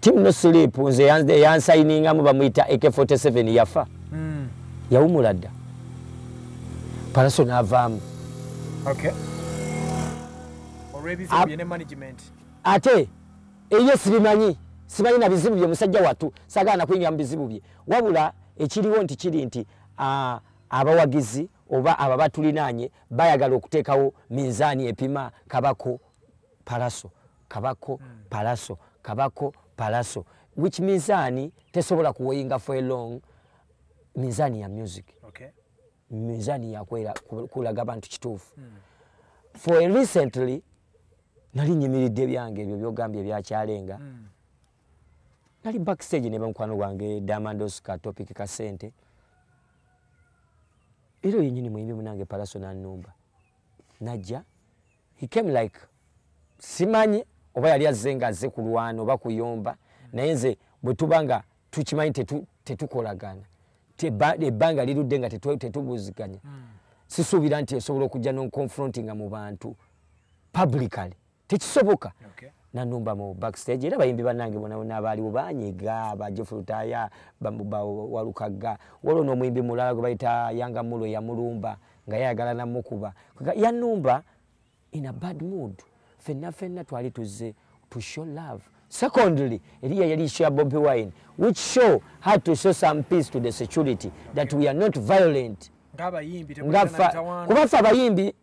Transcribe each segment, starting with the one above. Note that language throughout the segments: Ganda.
Team no sleep nze yansayininga mu bamuyita AK47 yafa. Mm. Yawumula dda. Palaso n'avaamu. Okay. Olw'ebizibu bye ne management. Ate eyo sibimanyi simanyi na bizibu bye musajja watu sagaana kuyingira mu bizibu bye wabula ekiriwo nti kiri nti abawagizi oba aba batulinaanye bayagala okuteekawo minzaani epima kabako palaso kabako mm. palaso kabako palaso which minzani tesobola kuweyinga for a long minzani ya music okay. minzani yakwera kulaga bantu kituufu mm. for a recently nali nyimiridde byange ebyo byogambye ebyakyalenga mm. nali backstage ne bamukwano gwange damandos ka topic ka sente era yenyini muyimbi munange palaso nanumba najja he came like simanyi oba yali azze nga azze kulwana oba kuyomba naye nze bwe tuba nga tukimanyi tetukolagana ebbanga lirudde nga tetubuziganya hmm. sisuubira nti esobola okujja nonconfrontinga mu bantu publically tekisoboka nanumba mu backstage era bayimbi banange bonabona abaaliwo banyiga bajofulutaya walukagga waliwo n'omuyimbi mulala gwe bayita yanga mulo yamulumba nga yayagala namukuba yanumba in a bad mood fenna fenna twali tuzze to show love secondly eriya yali isho ya bobi wine which show had to show some peace to the security that we are not violent kuba fe abayimbi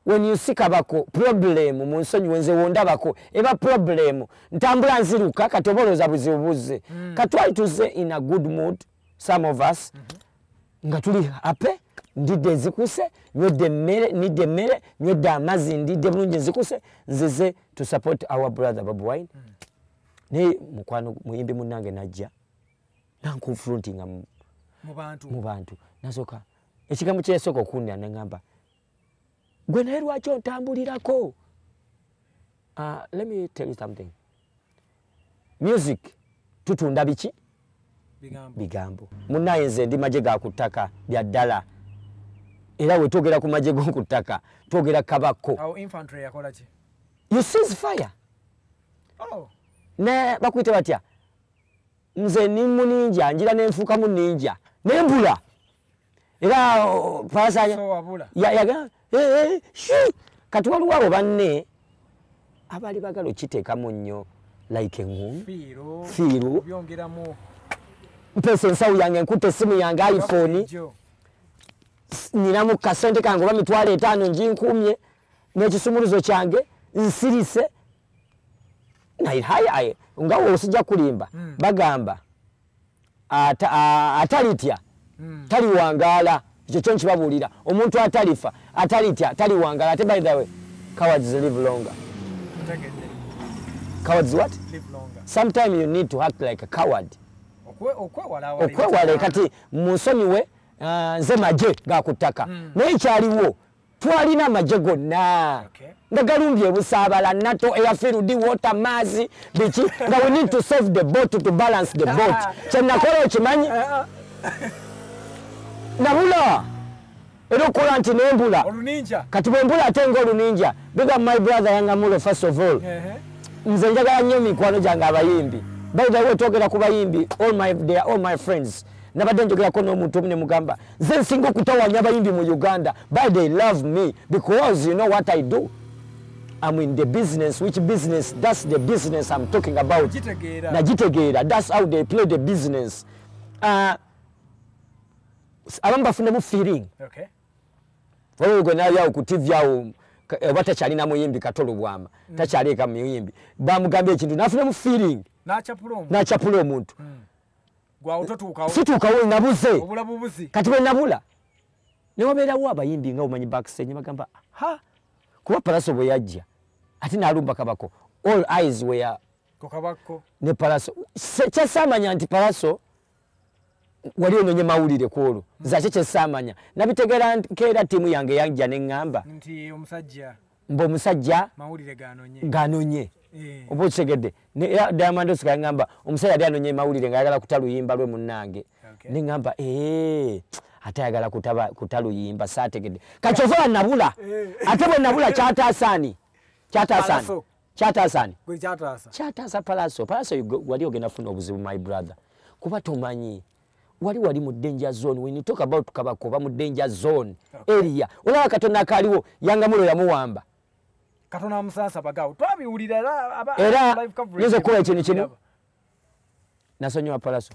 when you see kabako problem mu nsonyi wenze wondabako eba problem ntambula nziruka kati oba olowooza buzibu buzze mm. katwali tuzze in a good mood some of us mm -hmm. nga tuli ape ndidde ezikuse nywedde emmere nidde emmere nywedde amazzi ndidde bulungi ezikuse nzize to support our brother babu wine mm. naye mukwano muyimbi munange najja nankonfrontinga mu bantu nasooka ekigambo kyeyasooka okuwunira nengamba gwe naye lwaki ontambulirako uh, let me tell you something music tutunda biki bigambo munaye nze ndi maje ga ku ttaka bya ddala era we twogera ku maje g'oku ttaka twogera kabakko you sees fire oh. ne bakuyite batya nze ni muninja njira nenfuka muninja nembula era oh, pasa ya ya eh, eh, shi kati wali wabo banne abali bagalo kiteka munyo like ngu firo firo byongera mu pesa nsawu yange nkute simu yange iphone nina mu kasente kangu bamitwale etano njinkumye nekisumuluzo kyange nsirise naye haye nga osija kulimba mm. bagamba atalitya mm. taliwangaala ekyo kyo nkibabuulira omuntu atalifa atalitya taliwangaala ate by the way cowards live longer cowards what live longer. sometime you need to act like a coward okwewala kati munsonyiwe uh, nze maje gakuttaka mm. naye kyaliwo twalina amagye gonna nga galumbye ebusaabala nato eyafirudi wota maazi biki nga we need to solve the boat to balance the boat ah. kyenakola okimanyi eh, ah. nabula era okukola nti nembula kati bwembula ate nga oluninja biga my brother yangamulo first of all nze njagala nnyo mikwano gyange abayimbi by the way twogera ku bayimbi all my, they are all my friends nabadde njogerako n'omuntu omu nemugamba nze nsinga okutawanya abayimbi mu uganda by they love me because you know what i do am in the business which business thats the business am talking about nagitegeera thats how they play the business uh, abamu bafunemu feeling okay. olwo gwe nayo awo ku tv awo eh, oba takyalina muyimbi katolo bwama mm. takyaleeka muyimbi bamugamba ekintu nafunamu feeling nachapula omuntu mm. situukawo nabuze kati bwe nabula ne wabeerawo abayimbi nga omanyi bakisenye bagamba ha kuba palaso bwe yajja ate naalumba kabako all eyes were ne palaso kyasaamanya nti palaso wali ononye mawulire ku olwo hmm. zakye kyesaamanya nabitegeera nkeera ttiimu yange yanja ne ŋŋamba mbu omusajja ganonye eh. oba okitegedde era diamond osika ngamba omusajja yali anonye mawulire nga ayagala kuta luyimba lwe munnange ne ngamba ee ate ayagala kuta luyimba saategedde kakyova wanabula eh. ate bwe nabula kyataasaani kyataasaani kyataasaani kyataasa palaso palaso wali ogenda funa obuzibu my brother kuba tomanyi wali wali mu danger zone when you talk about kabako oba mu danger zone okay. area olaba katonda akaaliwo yangamulo yamuwamba katonda amusansa bagawo twabiwulira era yinza okukola ekintu kimu nasonyiwa palaso